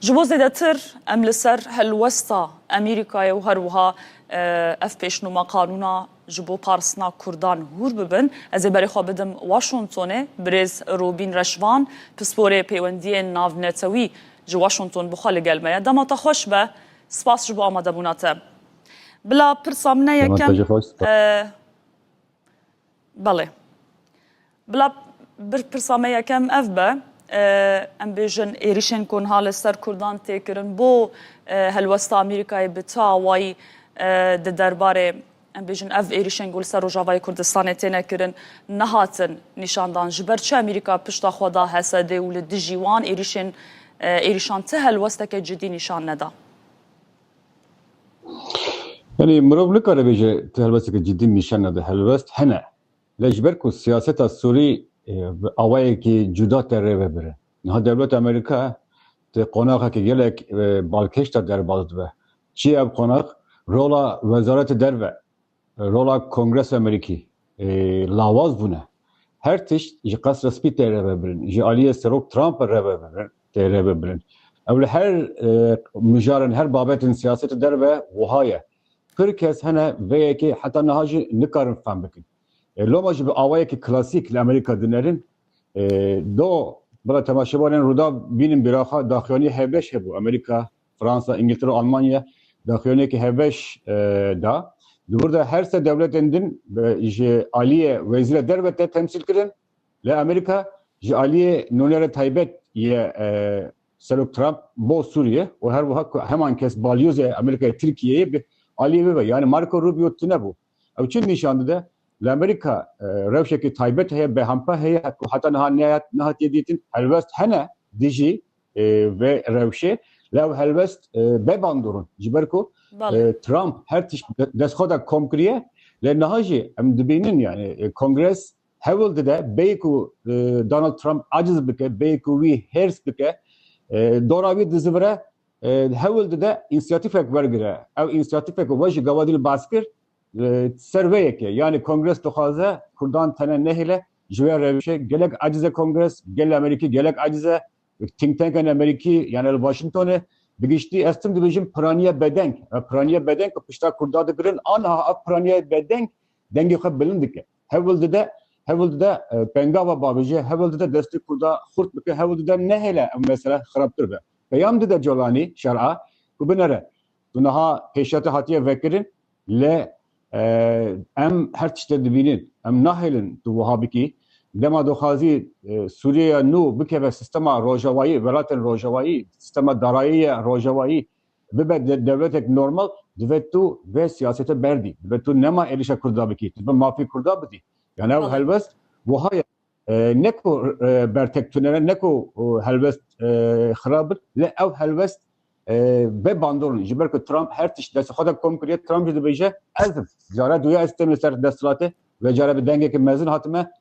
Ji bo zêdetir em li ser helwesta Amerîkayê û her wiha ev pêşnûma qanûna ji bo parsna Kurdan hûr bibin, ez ê berê xwe bidim Washingtonê, birêz Robîn Reşvan, pisporê pêwendiyên navnetewî ji Washington bi xwe li gel me ye. Dema te xweş be, spas ji bo amadebûna te. Bila pirsa min e yekem. Belê. Bila bir pirsa me yekem ev be, em bêjin êrîşên ku niha li ser Kurdan tê kirin bo helwesta Amerîkayê bi çi awayî di derbarê em bêjin ev êrîşên ku li ser Rojavayê Kurdistanê têne kirin nehatin nîşandan. Ji ber çi Amerîka pişta xwe da Hesedê û li dijî wan êrîşên êrîşan ti helwesteke cidî nîşan neda? Yanî mirov nikare bêje tu helwesteke cidî nîşan nede. Helwest hene. Lê ji ber ku siyaseta Sûrî bi awayekî cuda tê rê ve birin. Niha dewleta Amerîka di qonaxekî gelek balkêş de derbas dibe. Çi ye ev qonax? Rola Wezaretê Derve Rola Kongresa Amerîkî lawaz bûne. Her tişt ji Qesra Spî tê revebirin, ji aliyê Serok Trump re revebirin, tê revebirin. Ew li her mijaran, her babetên siyasetê derve wiha ye. Pir kes hene vê yekê heta niha jî nikarin fehm bikin. Loma jî bi awayekî klasîk li Amerîka dinerin. Do bila temaşevanên Rûdaw bînin bîraxa daxuyaniyê hevbeş hebû. Amerîka Fransa, Îngiltere û Almanya daxuyaniyeke hevbeş da. Di wir de her sê dewletên din ji aliyê Wezîra Derve te temsîl kirin. Lê Amerîka ji aliyê nûnera taybet yê Serok Trump bo Sûriyê û her wiha ku heman kes balyozê Amerîkayê Tirkiyeyê bi aliyê wê ve yanî Marco Rubio tune bû. Ew çi nîşan dide? Li Amerîka rewşekî taybet heye, BHMP heye ku heta niha nehatiye dîtin. Helwest hene dijî vê rewşê lê ew helwest bê bandor in. Ji ber ku Trump her tişt bi destxwe de kom kiriye lê niha jî em dibînin yanî Kongres Hewl dide bêyî ku Donald Trump aciz bike, bêyî ku wî hêrs bike, dora wî dizivire, hewl dide însiyatîfek wergire. Ew însiyatîfek ku we ji gavadî li baz kir, ser vê yekê. Yanî Kongres dixwaze Kurdan tene nehêle ji vê rewişê. Gelek aciz e Kongres, gelê Amerîkî gelek aciz e. Think tankên Amerîkî yanî li Washingtonê bi giştî ez tim dibêjim piraniya bedeng. Piraniya bedeng ku pişta Kurda digirin aniha ev piraniya bedeng dengê xwe bilind dike. Hewl dide, hewl dide pengava bavêje, hewl dide destê Kurda xurt bike, hewl dide nehêle ev mesele xirabtir be. Peyam dide Colanî şer'a ku binere. Tu niha pêşete hatiye vekirin lê em her tiştê dibînin. Em nahêlin tu wiha bikî. Dema doxazî Sûriyeya nû bikeve sistema rojavayî, welatên rojavayî, sistema darayî ya rojavayî, Bibe dewletek normal dibe tu vê siyasete berdî. Dibe tu nema êrîşa Kurd da bikî. Dibe mafê Kurd da bidî. Yan ew helwest wiha ye. Ne ku bertek tunere, ne ku helwest xirab in. Lê ew helwest bê bandor in. Ji ber ku Trump her tişt destê xwe de kom kiriye. Trump jî dibêje ez im. Care duye ez tême ser desthilatê. Vê care bi dengeke mezin hatime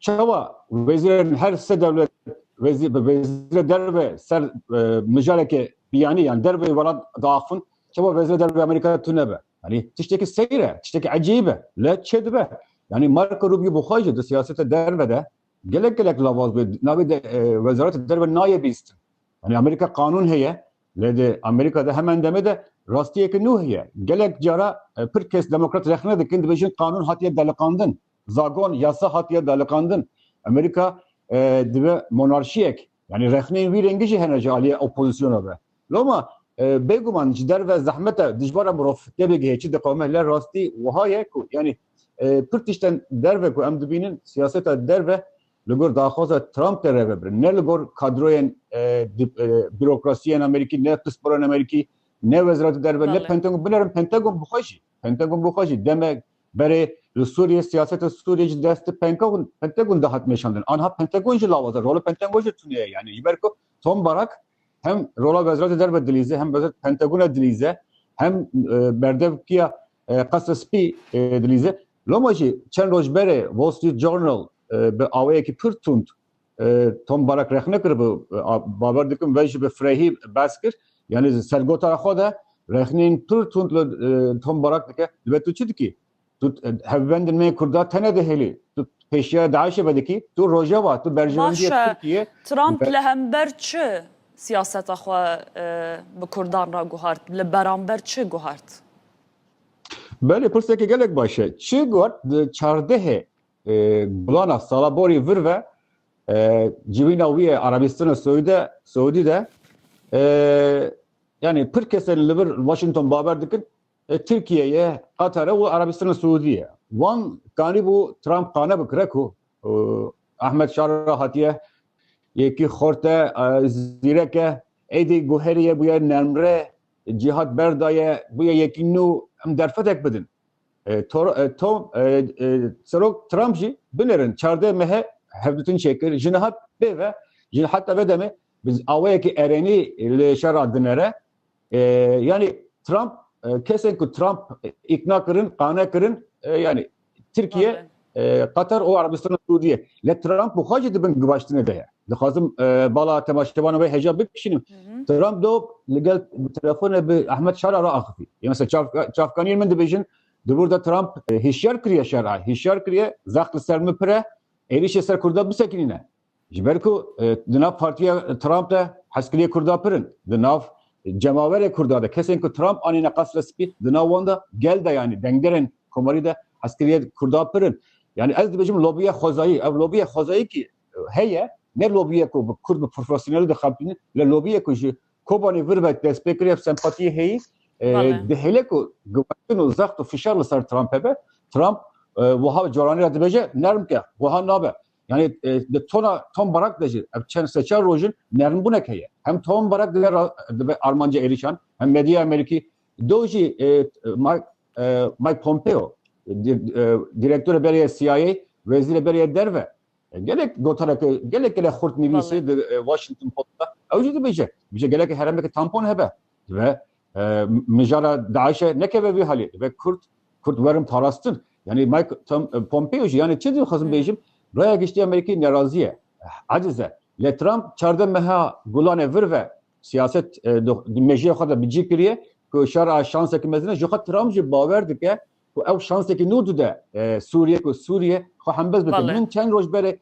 Çawa wezîrên her se dewlet wezîr bi wezîrê derve ser mijareke biyanî yan derveyê welat diaxivin çawa wezîrê derveyê Amerîkayê tune be? Yanî tiştekî seyr e, tiştekî ecîb e. Lê çê dibe? Yanî Marco Rubio bi xwe jî di siyaseta derve de gelek gelek lavaz bê. Navê di wezaretê derve nayê bîstin. Yanî Amerîka qanûn heye lê di Amerîka de hemen demê de rastiyeke nû heye. Gelek cara pir kes demokrat rexne dikin dibêjin qanûn hatiye deliqandin. Zagon yasa hatiye daliqandin. Amerîka dibe monarşiyek. Yanî rexneyên wî rengî jî hene ji aliyê opozîsyona ve. Loma bêguman ji derve zehmet e dijwar e mirov têbigihê çi diqewime lê rastî wiha ye ku yanî pir tiştên derve ku em dibînin siyaseta derve li gor daxwaza Trump de rêve birin. Ne li gor kadroyên bîrokrasiyên Amerîkî, ne pisporên Amerîkî, ne Wezîreta Derve, ne Pentagon, binerin Pentagon bi xwe jî, Pentagon bi xwe jî demek Berê li Sûriyê siyaseta Sûriyê ji destê Pentagon de hat meşandin. Anha Pentagon jî lawaza rola Pentagon jî tune ye. Yanî ji ber ku Tom Barak hem rola Wezareta Derve dilîze hem wezareta Pentagona dilîze hem berdevkiya Qesra Spî dilîze. Loma jî çend roj berê Wall Street Journal bi awayekî pir tund Tom Barak rexne kiribû bawer dikim ve jî bi firehî behs kir yanî ji ser gotara xwe de rexneyên pir tund li Tom Barak dike dibe tu çi dikî? Tu hevbendên me kurda tene dihêlî tu pêşiya DAIŞê ve dikî tu rojeva tu berjewendiya Tirkiye Trump li hember çi siyaseta xwe bi kurdan re guhart li beramber çi guhart? Belê pirsekê gelek baş e. Çi guhart di çardehê Gulana sala borî vir ve civîna wî ye Arabîstana Siûdî de yanî pir kesên li vir Washington bawer dikin Tirkiye ye, Qatar e û Arabîstana Siûdî ye. Wan kanîbû Trump qane bikire ku Ahmed Şara hatiye yekî xort e, zîrek e, êdî guherî ye bûye nermre, cîhat berdaye, bûye yekî nû em derfetek bidin. Serok Trump jî binêrin çardeh mehe hevdîtin çêkir ji niha pê ve ji heta ve demê bi awayekî erênî li şera dinêre. Yanî Trump kesên ku Trump îkna kirin, qane kirin yanî Tirkiye Qatar û Erebistana Sûdiyê lê Trump û xwe jî di bin givaştinê de ye. Dixwazim bala temaşevanê wê hêja bikişînim. Trump do li gel bi telefonê bi Ehmed Şara re axivî. Yê mesela çavkaniyên min dibêjin di wir de Trump hişyar kiriye Şara, hişyar kiriye zext li ser min pir e, êrîşê ser Kurda bisekinîne. Ji ber ku di nav partiya Trump de hezkiriyê Kurda pir in. Di nav cemawerê Kurda de kesên ku Trump anîne Qasra Spî di nav wan de gel de yanî dengderên komarî de hezkiriyê Kurda pir in. Yanî ez dibêjim lobiya xwezayî. Ev lobiya xwezayî kî heye ne lobiya ku bi Kurd bi profesyonelî dixebitîne lê lobiya ku ji Kobanê vir ve dest pê kiriye ev sempatiyê heyî dihêle ku giwatin û zext û fişar li ser Trump hebe. Trump wiha caranî re dibêje nerm ke wiha nabe. Yani di tona Tom Barak de jî ev çend seçar rojin nernbûnek heye. Hem Tom Barak dibe dibe armanca êrîşan hem medyaya Amerîkî do jî Mike Pompeo direktorê berê ye CIA wezîrê berê ye derve gelek gotarek gelek gelek xurt nivîsî di Washington Post'da ew jî dibêje bije gelek heremeke tampon hebe dibe Mijara DAIŞ'e nekeve vî halê dibe Kurd, Kurd werin parastin. Yanî Mike Pompeo jî yanî çi dixwazim bêjim Raya Giştî Amerîkî nerazî ye, aciz e. Lê Trump çardeh meha Gulanê vir ve siyaset di mejiyê xwe de bi cî kiriye ku şer a şansekî mezin e. Jixwe Trump jî bawer dike ku ew şansekî nû dide Sûriyê ku Sûriyê xwe hembez bike. Min çend roj berê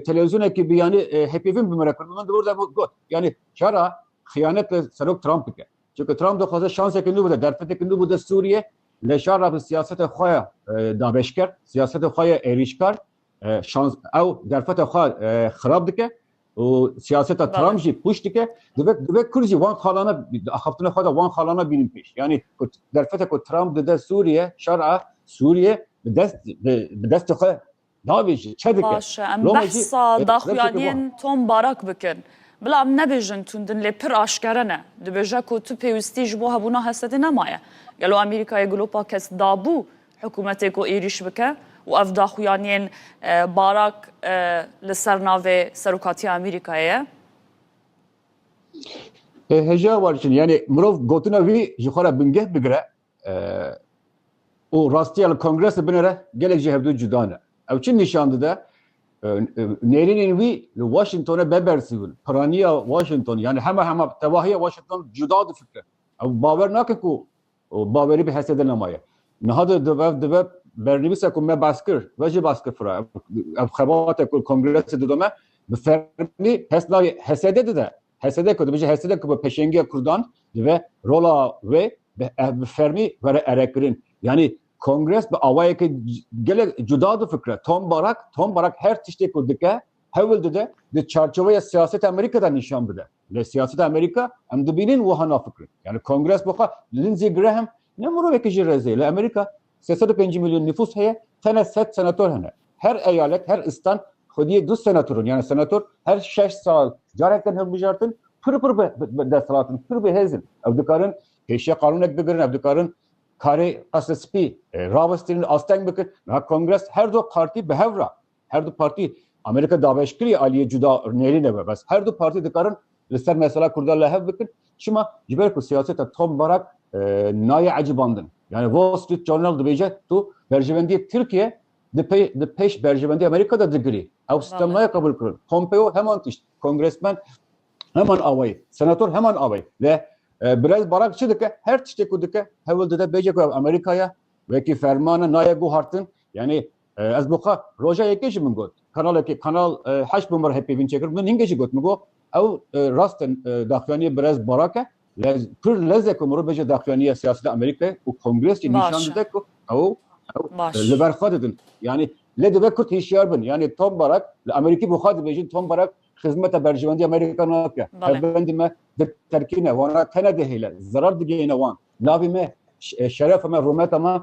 televizyonekî bi yanî hepêvin bi min re kir min di orda got yanî çara xiyanet li serok Trump bike. Çünkü Trump dixwaze şansekî nû bide, derfetekî nû bide Sûriyê lê şara bi siyaseta xwe ya dabeşker, siyaseta xwe ya êrîşkar şans ew derfeta xwe xirab dike. û siyaseta Trump jî pûç dike, divê divê Kurd jî wan xalana axaftina xwe de wan xalana bînin pêş. Yanî ku derfeteke ku Trump dide Sûriye, şer'a Sûriye bi dest bi destê xwe davêjin, çe dike. Baş e, em behsa daxuyaniyên Tom Barak bikin. Bila em nebêjin tundin lê pir aşkere ne. Dibêje ku tu pêwistî ji bo hebûna hesedê nemaye. Gelo Amerîkayê glopa kes dabû? Hikûmetê ku êrîş bike û ev daxuyaniyên Barak li ser navê Serokatiya Amerîkayê ye. Heja Barçin yanî mirov gotina wî ji xwe re bingeh bigire û rastiya li kongresê binêre gelek ji hevdu cuda ne. Ew çi nîşan dide? Nêrînên wî li Washingtonê bebersî bûn. Piraniya Washington yanî hema hema tevahiya Washington cuda difikire. Ew bawer nake ku û bawerî bi hesê din nemaye. Niha di dibe dibe bernivîsa ku me bas kir ve jî bas kir fira ev xebate ku kongresê dide me bi fermî pes navê HSD'ê dide. HSD ku dibêje HSD ku bi peşengiya Kurdan dibe rola wê bi ev bi fermî were erekirin. Yanî kongres bi awayekî gelek cuda difikire. Tom Barak, Tom Barak her tiştê ku dike hewil dide di çarçoveya siyaseta Amerîka de nîşan bide. Lê siyaseta Amerîka em dibînin wiha nafikirin. Yani kongres bi xwe Lindsey Graham ne mirovekî jî rezê li Amerîka sê sed û pêncî milyon nîfûs heye tene sed senator hene. Her eyalet her istan xwediyê du senatorin yani senator her şeş sal carek tên hilbijartin pir pir bi desthilatin pir bi hêzin. Ew dikarin pêşiya qanûnek bigirin ev dikarin karê qesre spî rabistirîn asteng bikin. Niha kongres her du partî bi hev ra Her du partî Amerîka daweş kiriye aliyê cuda nêrîne be bes her du partî dikarin li ser mesela Kurdan li hev bikin çima ji ber ku siyaseta Tom Barak nayê ecibandin yani Wall Street Journal dibêje tu berjivendiyê Tirkiye di pê di pêş berjivendiyê Amerîka de digirî ew sistem nayê qebûl kirin Pompeo heman tişt kongresmen heman awayî senator heman awayî le Birez Barak çi dike her tiştê ku dike hewil dide bêje ku Amerîkaya wekî fermana nayê guhartin yani Ez bo xwe roja yekê jî min got kanalekê kanal heşt bo min re hê pêvîn çêkir min hingê jî got min got ew rast in daxuyaniyê birez Barak e lez pir lez e ku mirov bêje daxuyaniya siyaseta Amerîkayê û kongres jî nîşan dide ku ew ew li ber xwe didin yanî lê dibe kurt hîşyar bin yanî Tom Barak li Amerîkî bo xwe dibêjin Tom Barak xizmeta berjewendî Amerîka nake hevbendî me di terkîne wana tene dihêle zerar digihêne wan navê me şerefa me rûmeta me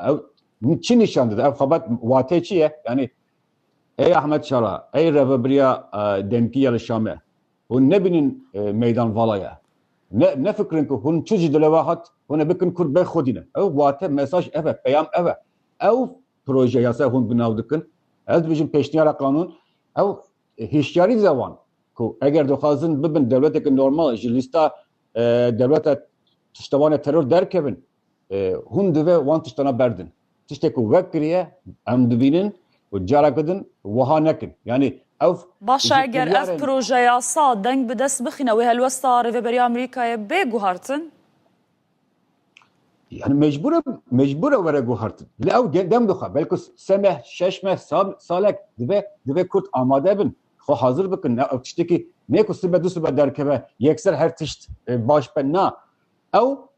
Ew çi nîşan dide? Ev xebat wateyê çi ye? Yanî ey Ahmet Şara, ey revebiriya demkî ya li Şamê hûn nebînin meydan vala ye. Ne nefikirin ku hûn çi ji dile we hat hûn ê bikin kurd bê xwedî ne. Ew wate, mesaj ev e, peyam ev e. Ew proje yasaya hûn bi nav dikin, ez dibêjim pêşniyara qanûn, ew hişyarî dide wan ku eger dixwazin bibin dewleteke normal ji lîsta dewleta tiştevanê teror derkevin, Hûn divê wan tiştana berdin. Tiştê ku wek kiriye em dibînin û careke din wiha nekin. Yanî ev Baş e eger ev projeyasa deng bi dest bixîne wê helwesta Rêveberiya Amerîkayê bê guhartin? Yanî mecbûr e mecbûr e were guhartin. Lê ew dem dixe belku se meh şeş meh sal salek divê divê Kurd amade bin xwe hazir bikin. Ne ew tiştekî nê ku sibe du sibe derkeve yekser her tişt baş be na. Ew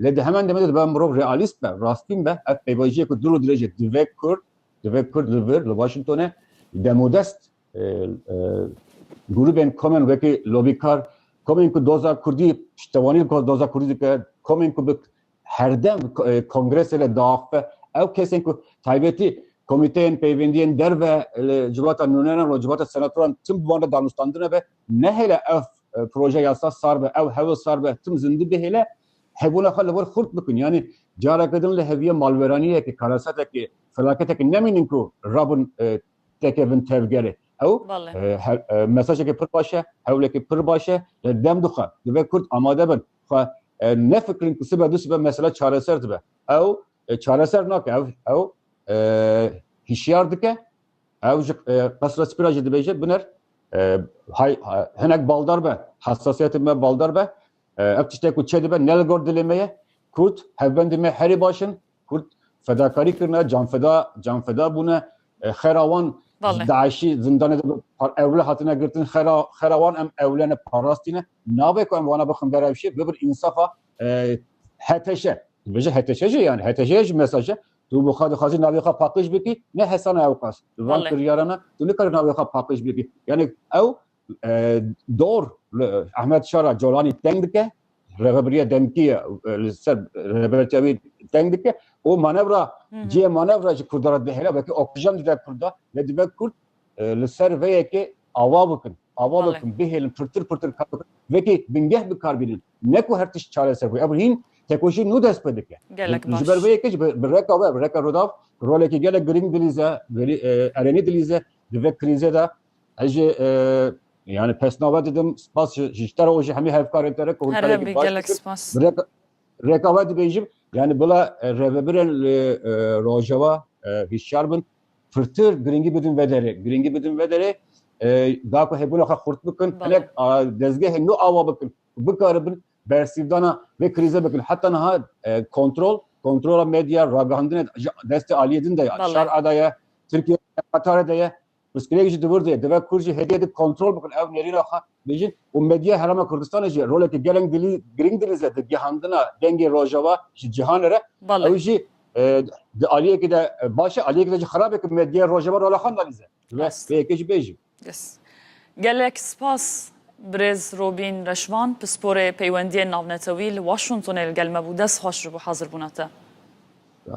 Lê di hemen demê de dibe mirov realîst be, rastîn be. Ev pêvajoyeke dûr û dirêj e. Divê Kurd, divê Kurd li vir, li Washingtonê demodest grûbên komên wekî lobîkar, komên ku doza Kurdî piştewanî ku doza Kurdî dike, komên ku bi herdem kongresê de diaxife, ew kesên ku taybetî komîteyên peyvendiyên derve li civata nûneran û civata senatoran tim bi wan re danûstandine be, Nehêle ev proje yasa sar be, ew hewil sar be tim zindi bihêle hebûna xwe li wir xurt bikin. Yanî careke din li heviyê malweraniyekê, karesetekê, felaketekê nemînin ku rabin tekevin tevgerê. Ew mesajekê pir baş e, hewlekê pir baş e. Li dem dixe divê kurd amade bin xwe nefikirin ku sibe du sibe mesela çareser dibe. Ew çareser nake, ew hişyar dike Ew ji qesra spî re jî dibêje biner hay hinek baldar be hessasiyetê me baldar be ev tiştek ku çêdibe ne li gor dilê me ye Kurd hevbendê me herî baş in Kurd fedakarî kirine canfeda canfeda bûne xera wan daişî zindanê de ewle hatine girtin xera xera wan em ewlene parastîne nabe ku em wana bixin berevşê bibir însafa heteşe bije heteşe jî yani heteşe ji mesaje Tu bi xwe dixwazî navê xwe paqij bikî, ne hesana ewqas. Bi van kiryara me tu nikarî navê xwe paqij bikî. Yanê ew dor li Ehmed Şara Colanî teng dike, rêvebiriya demkî ye li ser rêbertiya wî teng dike û manevra cihê manevra ji Kurdan re dihêle wekî oksijen dide Kurda lê dibe Kurd li ser vê yekê ava bikin. Ava bikin bihêlin pirtir pirtir kar bikin. Vekî bingeh bikar bînin. Ne ku her tişt çareser bû. Ev hîn tekoşî nû dest pê dike. Gelek baş. Ji ber vê yekê bi reka we, bi reka Rodav rolekî gelek girîng dilîze, erênî dilîze di vê krîzê de. Ez jî yani pesnave didim. Spas ji te re û ji hemî hevkarên te re ku hûn karekî baş gelek spas. Reka we dibêjim yani bila rêvebirên li Rojava hişyar bin. Pirtir giringî bidin vederê. Giringî bidin vederê da ku hêbûna xwe xurt bikin hinek dezgehê nû awa bikin û bikaribin bersîvdana vê krîze bikin. Heta niha kontrol kontrola medya ragihandinê ji destê aliyê din de ye. Şar a de ye, Tirkiye Qatarê de ye. Pirsgirêk jî di wir de ye. Divê Kurd jî hêdiyê din kontrol bikin ew nêrîna xwe. Bêjin û medyaya Herêma Kurdistanê jî roleke geleng dilî girîng dilîze di gihandina dengê Rojava ji cîhanê re. Ew jî di aliyekê de baş e, aliyekê de jî xerab e ku medyaya Rojava rola xwe nalîze. Divê vê yekê jî bêjim. Gelek spas Birêz Robîn Reşvan, Pisporê Peywendiyên Navnetewî li Washingtonê li gel me bû. Dest xweş ji bo hazir bûna te.